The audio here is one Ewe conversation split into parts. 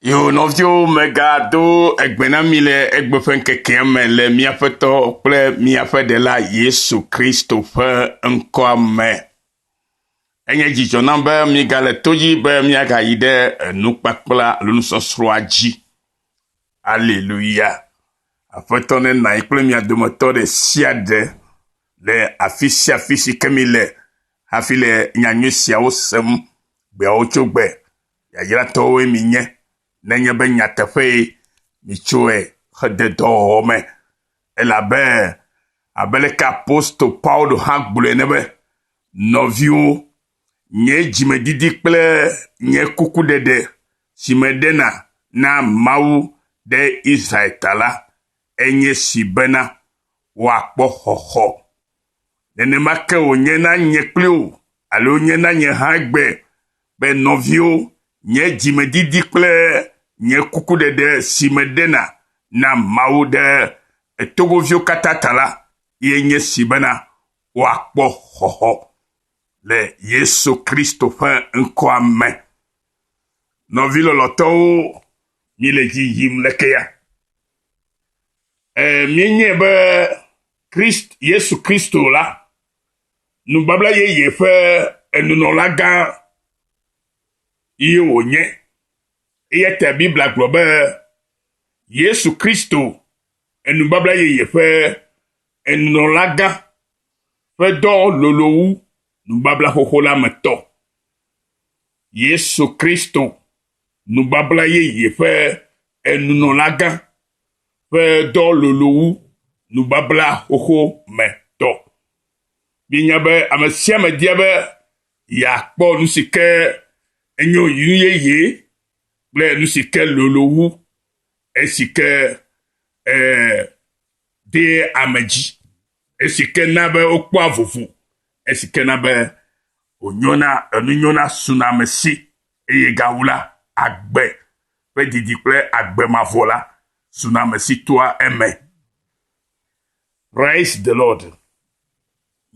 Yoo, nɔviwo, megado egbe na mi le egbe ƒe ŋkekea me le míaƒe tɔ kple míaƒe ɖela Yesu Kristo ƒe ŋkɔa me. Enye dzidzɔ nam be míegale to dzi be míagayi ɖe enukpakpla alo nusɔsrɔ̃a dzi. Aleluya. Aƒetɔ ne nanyi kple mia dometɔ ɖe sia ɖe le afi sia afi si ke mi le hafi le nyanyui siawo sem gbeawo tso gbe. Yayratɔwoe mienye nenye be nyateƒee mietsoe xe de dɔwɔwɔ me. Elabe abe aleke apostolo Paulo hã gblɔe ene be, Nɔviwo, nye dzimedidi kple nye kukuɖeɖe si meɖena na Mawu ɖe Israel ta la, enye si bena, woakpɔ xɔxɔ. Nenema ke wònye na nye kpli wò alo nye na nye hã egbea. Be nɔviwo, nye dzimedidi kple nye kukuɖeɖe si meɖena na Mawu ɖe togoviwo katã ta la ye nye si bena woakpɔ xɔxɔ le Yesu Kristo ƒe ŋkɔa me. Nɔvi lɔlɔtɔwo, mile dzi yim leke ya? Ẽ, mienyae be Krist, Yesu Kristo la Nubabla yeye ƒe enunɔlagã ye wònye. Eya ta Biblia gblɔ be Yesu Kristo, enubabla yeye ƒe enunɔlagã ƒe dɔ lolo wu nubabla xoxo la me tɔ. Yesu Kristo, nubabla yeye ƒe enunɔlagã ƒe dɔ lolo wu nubabla xoxo me tɔ. Míenya be ame sia ame dia be yeakpɔ nu si ke enyo nu yeye kple nu si ke lolo wu esi ke eh, de ame dzi, esi ke na be wokpɔa vovo, esi ke na be wònyɔna, enu nyɔna suna ame si, eye gawu la, agbe ƒe didi kple agbe mavɔ la suna ame si toa eme. Praise the Lord.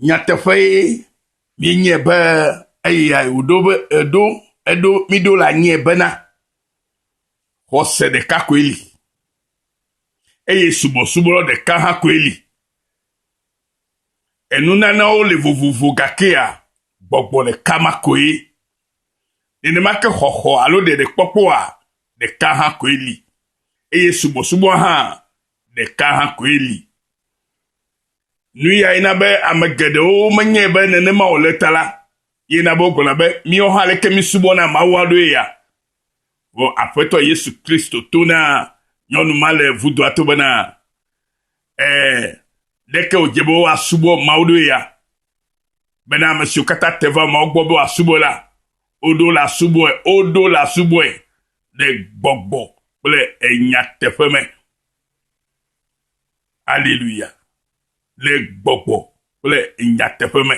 Nyateƒee mienye be eya wòɖo be eɖo eɖo miɖo le anyie bena xɔse ɖeka koe li eye subɔsubɔ ɖeka hã koe li. Enunanawo le vovovo gakea gbɔgbɔ ɖeka ma koe. Nenema ke xɔxɔ alo ɖeɖekpɔkpɔa ɖeka hã koe li eye subɔsubɔa hã ɖeka hã koe li. Nuyae na be ame geɖewo menyae be nenema wòle ta la, ye na be wogblɔna be, Míwo hã aleke mísubɔna Mawua ɖoe ya? Vɔ Aƒetɔ Yesu Kristo to na nyɔnu ma le vudoa to bena, Ẽ, ɖeke wòdze be woasubɔ Mawu ɖoe ya, bena ame siwo katã te va Mawu gbɔ be woasubɔe la, woɖo le asubɔe, woɖo le asubɔe le gbɔgbɔ kple enyateƒe me. Aleluya. Le gbɔgbɔ kple nyateƒe me.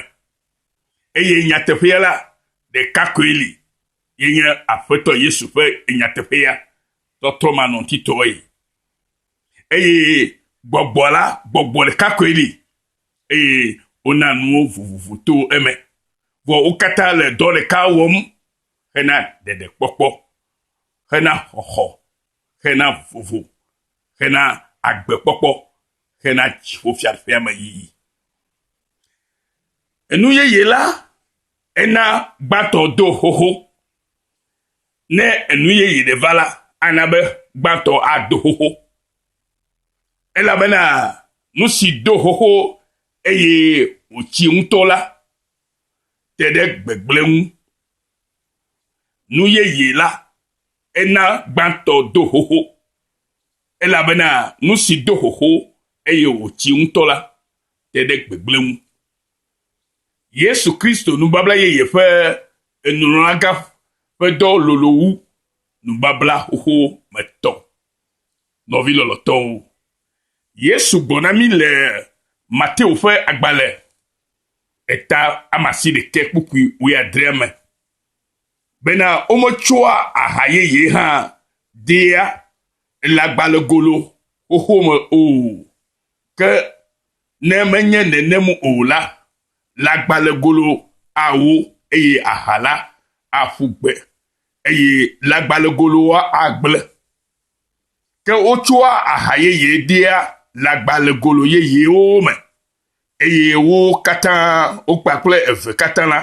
Eye nyateƒea la, ɖeka koe li. Ye nye Aƒetɔ Yesu ƒe nyateƒea tɔtrɔmanɔŋutitɔe. Eye gbɔgbɔ la, gbɔgbɔ ɖeka koe li, eye wona nuwo vovovo to eme, vɔ wo katã le dɔ ɖeka wɔm hena ɖeɖekpɔkpɔ, hena xɔxɔ, hena vovo, hena agbekpɔkpɔ, hena dziƒofiaɖuƒeameyiyi. Enu yeye la Ena gbãtɔ do xoxo. Ne enu yeye ɖe va la, ana be gbãtɔ ado xoxo. Elabena nu si do xoxo eye wòtsi ŋutɔ la te ɖe gbegblẽ ŋu. Nu yeye la, ena gbãtɔ do xoxo. Elabena nu si do xoxo eye wòtsi ŋutɔ la te ɖe gbegblẽ ŋu. Yesu Kristo nubabla yeye ƒe enunɔlagã ƒe dɔ lolo wu nubabla xoxo me tɔ. Nɔvi lɔlɔtɔwo, Yesu gblɔ na mí le Mateo ƒe agbalẽ eta amasi ɖekɛ kpukpui wuiadrea me bena wometsɔa aha yeye hã dea elãgbalẽgolo xoxo me o, ke Ne menye nenem o la, lãgbalẽgolo awo, eye aha la aƒu gbe, eye lãgbalẽgoloa agblẽ. Ke wotsɔa aha yeye dea lãgbalẽgolo yeyewo me, eye wo katã, wo kpakple eve katã la,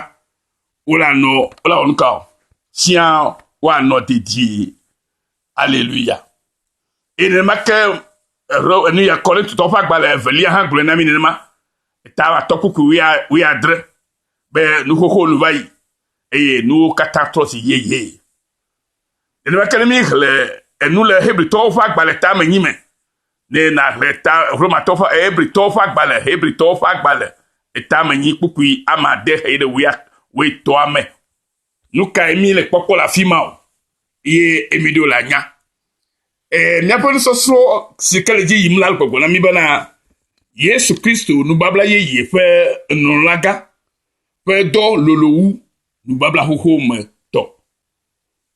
wolanɔ, wolawɔ nu ka o? Tsiã woanɔ dedie. Aleluya. Eye nenema ke nuya Korintotɔ ƒe agbalẽ evelia hã gblɔe na mi nenema. Eta atɔ kuku wuia adre be nuxoxo nu va yi eye nuwo katã trɔ si yeye. Nenema ke ne mi hle enu le Hebritɔwo ƒe agbalẽ ta me nyi me, ne na hle ta Romatɔ ƒe Hebritɔwo ƒe agbalẽ, Hebritɔwo ƒe agbalẽ eta me nyi kpukpui amade heyi ɖe wuia wuitɔa me. Nu kae mi le kpɔkpɔ le afi ma o eye mi ɖo le anya? Ee, míaƒe nusɔsrɔ̃ si ke le dzi yim la le gbɔgblɔ na mi bena Yesu Kristo nubabla yeye ƒe nulagã ƒe dɔ lolo wu nubabla xoxo me tɔ.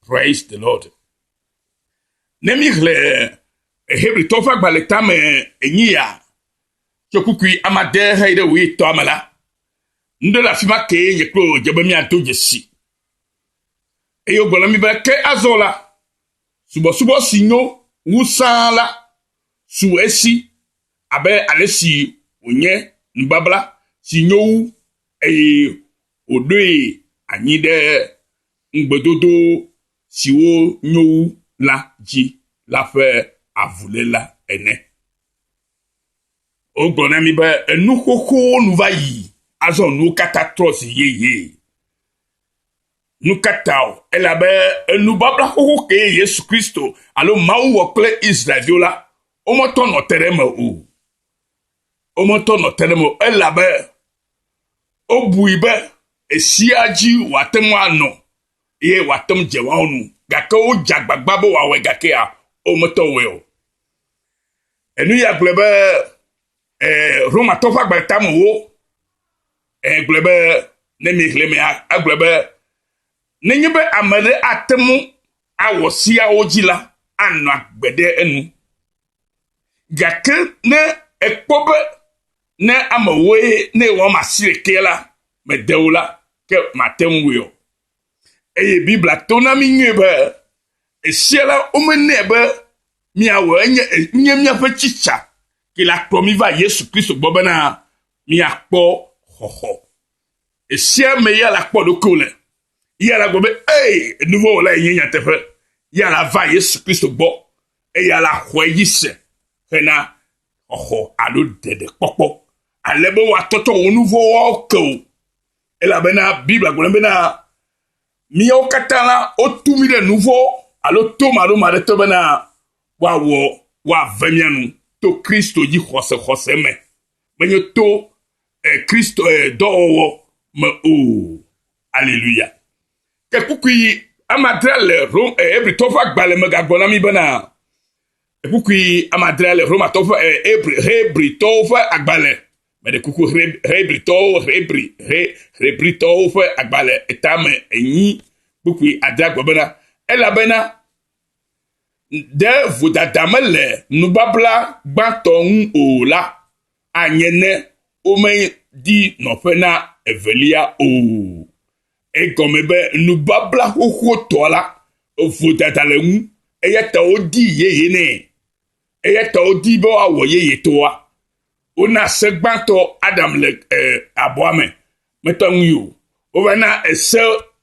Praise the Lord. Ne mi hle Hebritɔwo ƒe agbalẽ tame enyi ya tso kukui amade heyi ɖe wòye tɔa me la, Nuɖe le afi ma kee nye kple wò dze be míado dzesi. Eye wogblɔ na mí be, ke azɔ la, subɔsubɔ si nyo wu sãa la su esi abe ale si wònye nubabla si nyo wu eye wòɖoe anyi ɖe ŋugbedodo siwo nyo wu la dzi la ƒe avuléla ene. Wogblɔ na mi be enu xoxowo nu va yi, azɔ nuwo katã trɔ zi yeye. Nu ka ta o? Elabe enubabla xoxo kee Yesu Kristo alo Mawu wɔ kple Israelviwo la, wometɔ nɔ te ɖe eme o. Wometɔ nɔ te ɖe eme o, elabe wobui be esia dzi wòate ŋu anɔ ye wòate ŋu dze woawo nu. Gake wodze agbagba be wòawɔe gakea, wometɔ wɔe o. Enu ya gblɔe be eh, Romatɔ ƒe agbalẽ tamewo eh, gblɔe be ne miexlẽ mea, egblɔe be nenye be ame ɖe ate ŋu awɔ siawo dzi la, anɔ agbe ɖe enu. Gake ne ekpɔ be ne amewoe ne wɔm asi ɖekee la, mede o la, ke mate ŋu o. Eye Biblia to na mí nyuie be esia la, womenɛ be míawɔ enye enye míaƒe tsitsa ke la kplɔ mí va Yesu Kristo gbɔ bena míakpɔ xɔxɔ. Esia me ya la kpɔ ɖokuiwò le. Ya la gblɔ be, ee, enuvɔwɔla enye nyateƒe. Ya la va Yesu Kristo gbɔ eya la xɔe dzi se hena xɔxɔ alo ɖeɖekpɔkpɔ ale be woatɔtɔ wò nuvɔ̃ woawo ke o. Elabena Biblia gblɔ bena míawo katã la, wotu mí ɖe nu vɔ̃ alo to maɖoma aɖe te bena woawɔ woave mía nu to Kristo dzi xɔse xɔse me, menye to eh, Kristo eh, dɔwɔwɔ me o. Aleluya. Ke kukui amadre le Rom eh, Hebritɔ ƒe agbalẽ me gagblɔ na mí bena kukui amadre le Romatɔ ƒe eh, Hebritɔwo ƒe agbalẽ Meɖe kuku Hebritɔwo, Hebri, He, Hebritɔwo ƒe agbalẽ etame enyi kpukpui adea gbe bena, Elabena ɖe vodada mele nubabla gbãtɔ ŋu o la, anye ne womedi nɔƒe na evelia o. Egɔme be nubabla xoxotɔ la, vodada le ŋu, eya ta wodi yeye nɛ, eya ta wodi be woawɔ yeyetɔa. Wona se gbãtɔ Adam le eh, abɔa me, mete ŋu yi o. Wova na ese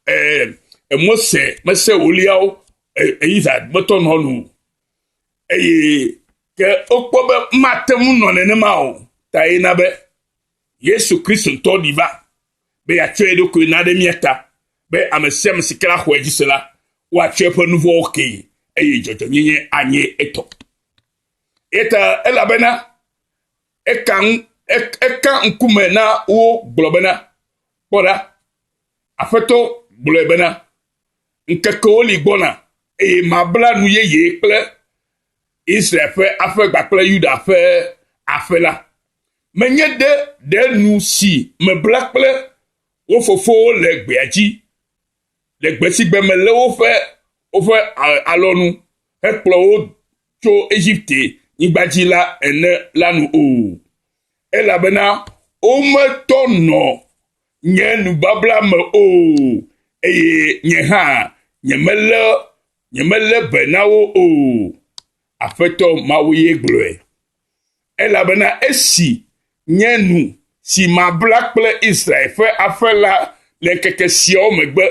eh, Mose mese wòliawo eh, eyiza gbetɔ nɔ nu o. Eye ke wokpɔ be mate ŋu nɔ nenema o, ta ye na be Yesu Kristo ŋutɔ ɖi va be yeatsɔ ye ɖokui na ɖe mía ta, be ame sia ame si ke la xɔe dzi se la, woatsɔ eƒe nuvɔwo kee, eye dzɔdzɔenyenye anye etɔ. Eya ta elabena eka, eka ŋkume na wo gblɔ bena, Kpɔ ɖa, Aƒetɔ gblɔe bena, ŋkekewo li gbɔna, eye mabla nu yeye kple Israel ƒe aƒe kpakple Yuda ƒe aƒe la. Menye ɖe ɖe nu si mebla kple wo fofowo le gbea dzi le gbe si gbe melé woƒe, woƒe alɔnu hekplɔ wo tso Egipte nyigba dzi la ene la nu o. Elabena wometɔ nɔ nye nubabla me o, eye nye hã nyemelé, nyemelé be na wo o. Aƒetɔ Mawue gblɔe. Elabena esi nye nu, si mabla kple Israel ƒe aƒe la le ŋkeke siawo megbe,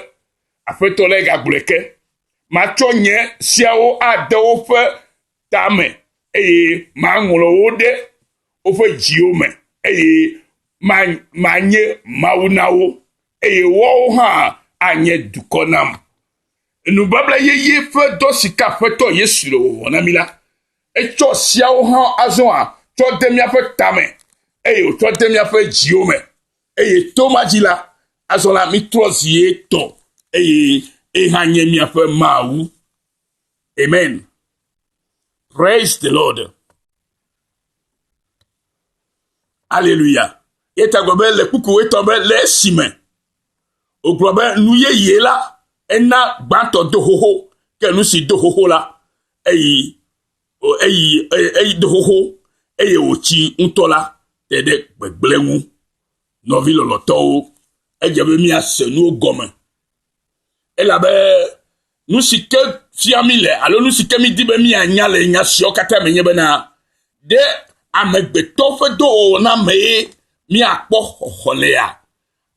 Aƒetɔ lae gagblɔe ke, matsɔ nye seawo ade woƒe tame, eye maŋlɔ wo ɖe woƒe dziwo me, eye manye Mawu na wo, eye woawo hã anye dukɔ nam. Nubabla yeye ƒe dɔ si ke Aƒetɔ Yesu le wɔwɔ na mí la, Etsɔ siawo hã azɔ hã tsɔ de míaƒe tame, eye wòtsɔ de míaƒe dziwo me. Eye to ma dzi la, azɔ la, mítrɔ zi ye tɔ, eye ye hã nye míaƒe Mawu. Amen. Praise the Lord. Aleluya. Ye ta gblɔ be le kpuku wetɔ be le esime wògblɔ be nu yeye la ena gbãtɔ do xoxo, ke nu si do xoxo la Eyi, eyi, eyi do xoxo, eye wòtsi ŋutɔ la te ɖe gbegblẽ ŋu. Nɔvi lɔlɔtɔwo, edze be míase nuwo gɔme, elabe nu si ke fia mi le alo nu si ke mídi be míanya le nya siawo katã me nye bena, ɖe amegbetɔ ƒe dɔwɔwɔ na mee míakpɔ xɔxɔ lea?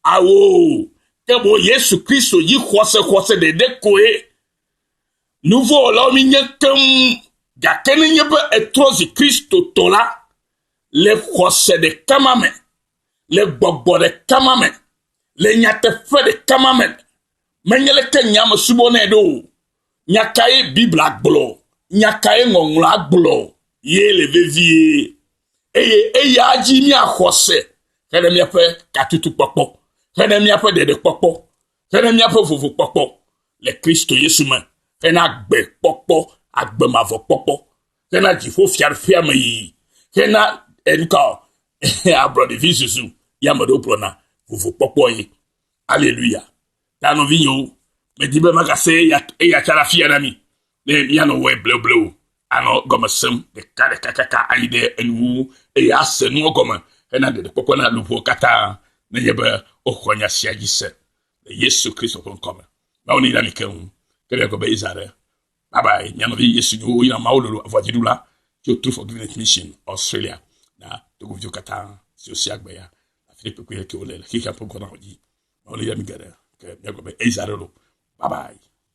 Ao, ke boŋ Yesu Kristo dzi xɔse xɔse ɖeɖe koe. Nu vɔ̃ wɔlawo míenye keŋ, gake nenye be ètrɔ zi Kristotɔ la, le xɔse ɖeka ma me, le gbɔgbɔ ɖeka ma me, le nyateƒe ɖeka ma me, menye leke nye ame subɔnɛ ɖo o. Nya kae Biblia gblɔ? Nya kae Ŋɔŋlɔa gblɔ? Ye le vevie. Eye eya dzi mía xɔse hene míaƒe katutukpɔkpɔ, hene míaƒe ɖeɖekpɔkpɔ, hena míaƒe vovokpɔkpɔ le Kristo Yesu me, hena agbe kpɔkpɔ, agbe mavɔ kpɔkpɔ, hena dziƒo fiaɖuƒea me yiyi, hena enuka ablɔɖevi zuzu ya me ɖewo gblɔna vovokpɔkpɔ ye. Aleluya. Ta nɔvinyewo, medi be magase eya tsara fia na mi. Ne míanɔ wɔe bleble o, anɔ gɔme sem ɖekaɖeka kaka ayi ɖe enuwo eye ase nuwo gɔme hena ɖeɖekpɔkpɔ na luʋɔ katã nenye be woxɔ nya sia dzi se le Yesu Kristo ƒe ŋkɔ me. Mawu neyra mi keŋ, ke ɖe gɔme yi zã ɖe. Bye bye, mia nɔvi Yesu nyo woyra Mawu lolo avɔa dziɖula tso True Forgiveness Mission Australia na Togo viwo katã siwo sia gbe ya afi ɖe kpekpe ɖe ke wole le xexea ƒe ŋkɔnawo dzi. Mawu neyra mi geɖe ke mia gɔme eyi zã ɖe lo. Bye bye.